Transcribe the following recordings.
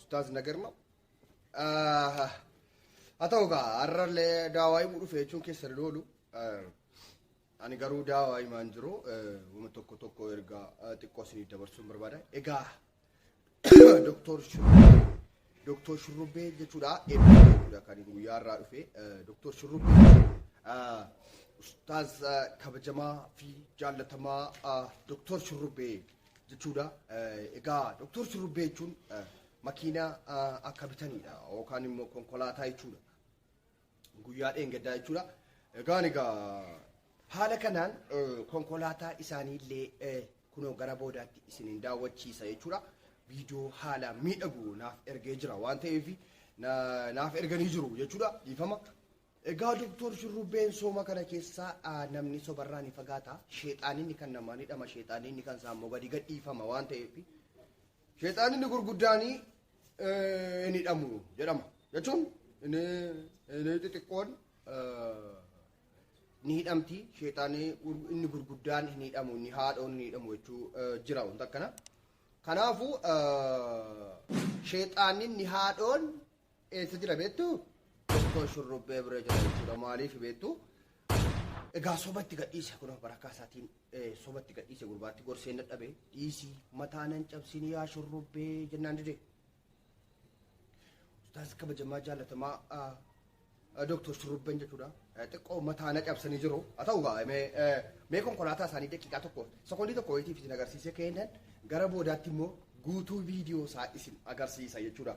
Ustaaz Nagarma. Haa ta'u gaa har'allee daawaa himuu dhufe jechuun keessa hin oolu. Ani garuu daawaa himaan jiru wama tokko tokko erga xiqqoo isinii dabarsuun barbaada. Egaa Doktor Shurrubbee Doktor Shurrubbee jechuudha eebbaa jechuudha kan guyyaa irraa dhufe Doktor Shurrubbee Ustaaz kabajamaa fi jaallatamaa Doktor Shurrubbee jechuudha. Egaa doktor shurrubbee jechuun makiinaa akka bitanidha yookaan immoo konkolaataa jechuudha. Guyyaa dheengaddaa jechuudha. Egaan egaa haala kanaan konkolaataa isaanii illee kunoo gara boodaatti isin hin daawwachiisa jechuudha. Viidiyoo haala miidhagu naaf ergee jira waan ta'eef naaf erganii jiru jechuudha. Dhiifama Egaa Doktor shurrubbeen sooma kana keessaa namni sobarraa ni fagaata. Sheexaaninni kan namaa ni dhama, sheexaaninni kan isaa immoo gadi gadhiifama waan ta'eef sheexaaninni gurguddaanii ni dhamu jedhama. Jechuun inni inni xixiqqoon ni hidhamti, sheexaanii inni gurguddaan ni hidhamu, inni haadhoon ni hidhamu jechuu jira wanta akkana. Kanaafuu sheexaaninni haadhoon Eessa jira beektu? Iddoo shurrubbee bira jira jechuudha. Maaliif beektu? Egaa soba itti gadhiise kun barakaa isaatiin eh, soba itti gadhiise gurbaatti gorseen dadhabe dhiisii mataa nan cabsin yaa shurrubbee jennaan dide. Ustaaz kabajamaa jaallatamaa ah, ah, Dooktor Shurrubbeen jechuudha. Eh, Xiqqoo mataa na cabsanii jiru. Haa ta'u gaa mee eh, mee konkolaataa isaanii daqiiqaa tokko sekoondii tokko wayitiif isin agarsiisee kennan gara boodaatti immoo guutuu viidiyoo isaa isin agarsiisa jechuudha.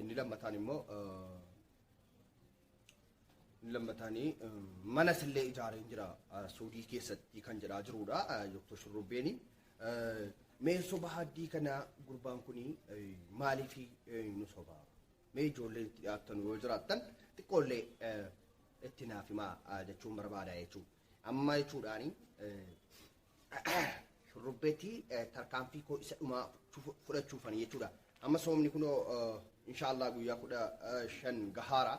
Inni lammataan immoo inni lammataanii manas illee ijaareen jira Suudii keessatti kan jedhaa jirudha Dr. Shurrubbeeni. Mee soba haddii kana gurbaan kun maaliif nu soba? Mee ijoollee itti dhiyaattan yoo jiraattan xiqqoollee itti naaf himaa jechuun barbaada jechuudha. Amma jechuudhaani shurrubbeetti tarkaanfii koo isa dhumaa fudhachuufan jechuudha. Amma soomni kunoo inshaallah guyyaa kudha shan gahaara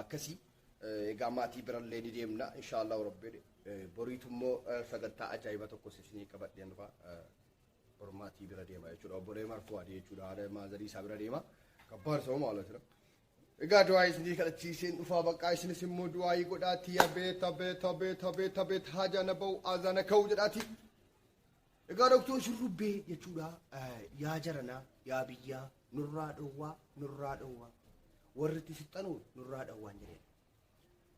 akkasii egaa maatii birallee ni deemna inshaallah rabbiin boriitu immoo sagantaa ajaa'iba tokko isinii qabadheen dhufa bor maatii bira deema jechuudha obbolee marfuu adii jechuudha haadha maazarii isaa bira deema kabbaar sooma haala jira Egaa du'aa'ii isinii kadhachiiseen dhufaa baqqaa isinis immoo du'aa'ii godhaatii yaa beeta beeta beeta beeta beeta haajaana ba'u aazaana ka'u jedhaatii. Egaa doktoon shurrubbee jechuudha yaa jaranaa yaa biyyaa nurraa dhowwaa nurraa dhowwaa warri itti sixxanu nurraa dhowwaan jedheen.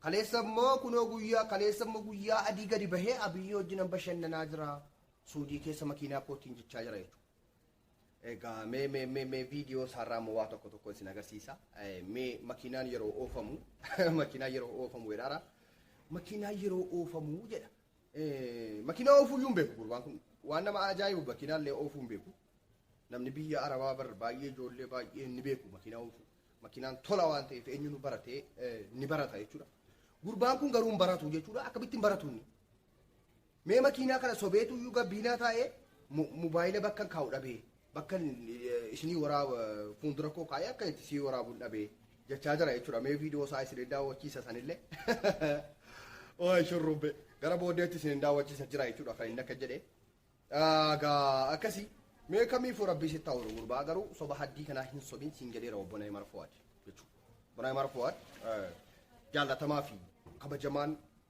Kaleessa immoo kunoo guyyaa kaleessa immoo guyyaa adii gadi bahee abiyyii wajjinan bashannanaa jira suudii keessa makiinaa kootiin jechaa jira jechuudha. Egaa mee mee mee mee viidiyoo isaarraa immoo waa tokko tokko isin agarsiisa. Eh, Mee makiinaan yeroo oofamu makiinaan yeroo oofamu jedhaara. Makiinaan yeroo oofamu jedha. Eh, Makiinaa oofuu iyyuu hin beeku gurbaan kun. Waan nama ajaa'ibu makiinaa illee oofuu hin beeku. Namni biyya Arabaa bar baay'ee ijoollee baay'ee ni beeku makiinaa oofuu. Makiinaan tola waan ta'eef eenyuun baratee eh, ni barata jechuudha. Gurbaan kun garuu hin baratu jechuudha. Akkamittiin baratu inni? Mee makiinaa kana sobeetu iyyuu gabbiinaa taa'ee mobaayila bakkan kaa'u dhabee bakkan isinii waraa fuuldura koo kaa'ee akka itti sii waraabuun dhabee jechaa jira jechuudha. Mee viidiyoo isaa isin hin daawwachiisa sanillee. Ooy shurrubbe gara booddeetti isin hin daawwachiisa jira jechuudha kan inni akka jedhe. Gaa akkasi mee kamiifuu rabbii sitti haa'u gurbaa garuu soba haddii kanaa hin sobin siin jedheera obbo Nayimar Fuwaad jechuudha. Obbo Nayimar Fuwaad jaallatamaa fi kabajamaan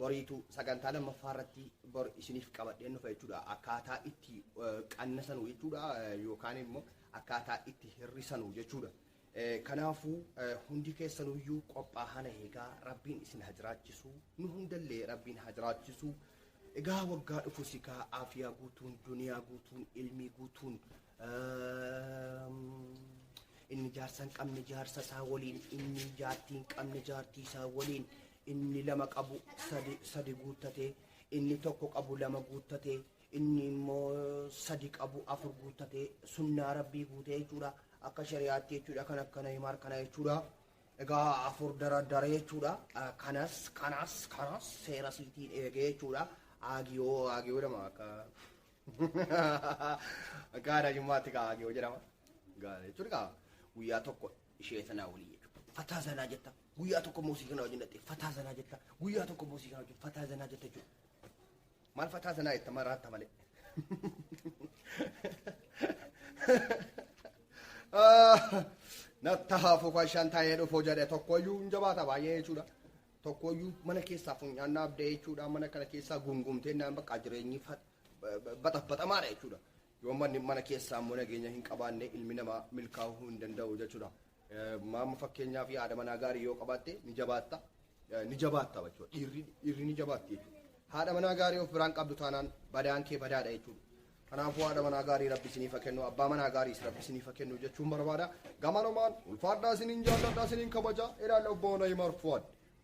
Boriitu sagantaa lammaffaa irratti bor isiniif qabadheen dhufa jechuudha. Akkaataa itti eh, qannasanu jechuudha eh, yookaan immoo akkaataa itti hir'isanu jechuudha. Eh, Kanaafuu eh, hundi keessanuyyuu qophaa hana eegaa rabbiin isin haa jiraachisu nu hundallee rabbiin haa jiraachisu. Egaa waggaa dhufu sikaa aafiyaa guutuun duniyaa guutuun ilmii guutuun ehm, inni jaarsa hin qabne jaarsa isaa waliin inni jaartii hin qabne jaartii isaa waliin inni lama qabu sadi, sadi guuttatee, inni tokko qabu lama guuttatee, inni immoo sadi qabu afur guuttatee sunnaa rabbii guutee jechuudha. Akka shari'aatti jechuudha kan akkana himaar kana jechuudha. Egaa afur dara dara jechuudha. Ah, Kanas kanas kanas seera siitiin eegee jechuudha. Aagiyoo aagiyoo jedhama akka akka aadaa jimmaatti kaa aagiyoo jedhama. Gaara jechuudha kaa guyyaa tokko ishee sanaa waliin jechuudha. Fataa sanaa jetta. Guyyaa tokko immoo sii kana wajjin dhattee fataa zanaa jetta. Guyyaa tokko immoo sii kana wajjin fataa zanaa jetta jechuudha. Maal fataa zanaa jetta maal raatta malee. Natta haafuu fashaan taa'ee dhufuu jedhe tokkoyyuu hin jabaata baay'ee jechuudha. Tokkoyyuu mana keessaa funyaan dhaabdee jechuudha. Mana kana keessaa gungumtee naan bakka jireenyi batabatamaadha jechuudha. Yoo manni mana keessaa immoo nageenya hin qabaanne ilmi namaa milkaa'uu hin danda'u jechuudha. Maamma fakkeenyaa fi haadha manaa gaarii yoo qabaatte ni jabaatta ni jabaatta jechuudha. Dhiirri dhiirri ni jabaatti jechuudha. Haadha manaa gaarii of biraan qabdu taanaan badaan kee badaadha jechuudha. Kanaafuu haadha manaa gaarii rabbi isiniif haa kennu abbaa manaa gaariis rabbi isiniif haa kennu jechuun barbaada. Gamanumaan ulfaadhaa isiniin jaalladhaa isiniin kabajaa ilaalla obbo Nayimar Fuwaad.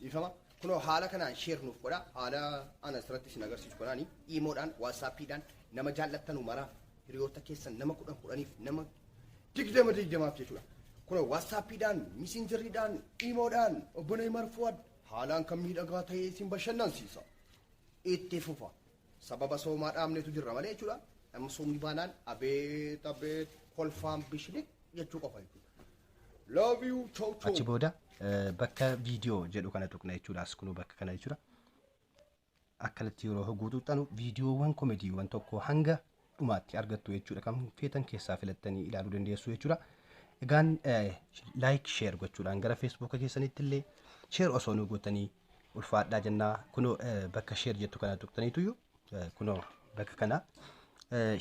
Dhiifama kunoo haala kanaan share nuuf godha haala an asirratti isin agarsiisu kanaani iimoodhaan waatsaappiidhaan nama jaallattanu maraaf hiriyoota keessan nama kudhan kudhaniif nama digdama digdamaaf jechuudha. Kunoo waatsaappiidhaan misinjirriidhaan iimoodhaan obbolee marfuwad haalaan kan miidhagaa ta'ee isin bashannansiisa. Itti fufa Sababa soomaa dhaabneetu jirra malee jechuudha. Amma soomni baanaan abeet abeet kolfaan bishiliq jechuu qofa jechuudha. Love you chow chow. Achi booda eh, bakka viidiyoo jedhu kana tuqna jechuudha. As kunoo bakka kana jechuudha. Akkanatti yeroo hogguu tuqxanu viidiyoowwan komediiwwan tokko hanga dhumaatti argattu jechuudha kan feetan keessaa filattanii ilaaluu dandeessu jechuudha. Egaan laayik sheer gochuudhaan gara feesbuuka keessanitti illee sheer osoo nu gootanii ulfaadhaa jennaa kunoo bakka sheer jettu kana tuqxaniituyyuu kunoo bakka kana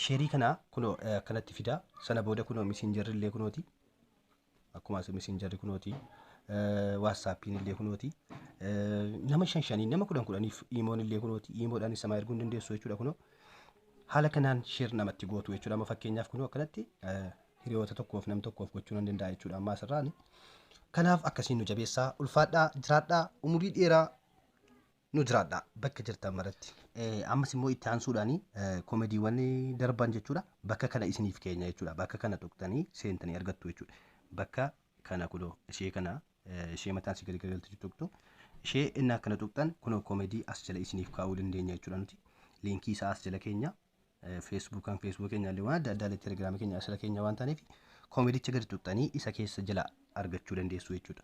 sheerii kana kunoo kanatti fidaa sana booda kunoo misinjarri illee kunooti akkuma as messengerri kunooti waatsaappiin illee kunooti nama shan shanii nama kudhan kudhaniif iimoon illee kunooti iimoodhaan isa maa erguun dandeessu jechuudha kunoo haala kanaan sheer namatti gootu jechuudha amma fakkeenyaaf kunoo akkanatti hiriyoota tokkoof nam tokkoof gochuu nan danda'a jechuudha ammaa asirraani kanaaf akkasiin nu jabeessaa ulfaadhaa jiraadhaa umurii dheeraa nu jiraadha bakka jirtan maratti. Eh, ammas immoo itti aansuudhaan eh, komediiwwan darban jechuudha bakka kana isiniif keenya jechuudha bakka kana tuqtanii seentanii argattu jechuudha bakka kana kunoo ishee kana eh, ishee mataan si garagalti tuqtu ishee inni akkana tuqtan kunoo komedii as jala isiniif kaa'uu dandeenya jechuudha nuti liinkii isaa as jala keenya eh, feesbuukaan feesbuuk keenya illee waan adda addaa illee telegiraamii keenya asirra keenya waan taaneef komedicha gadi tuqtanii isa keessa jala argachuu dandeessu jechuudha.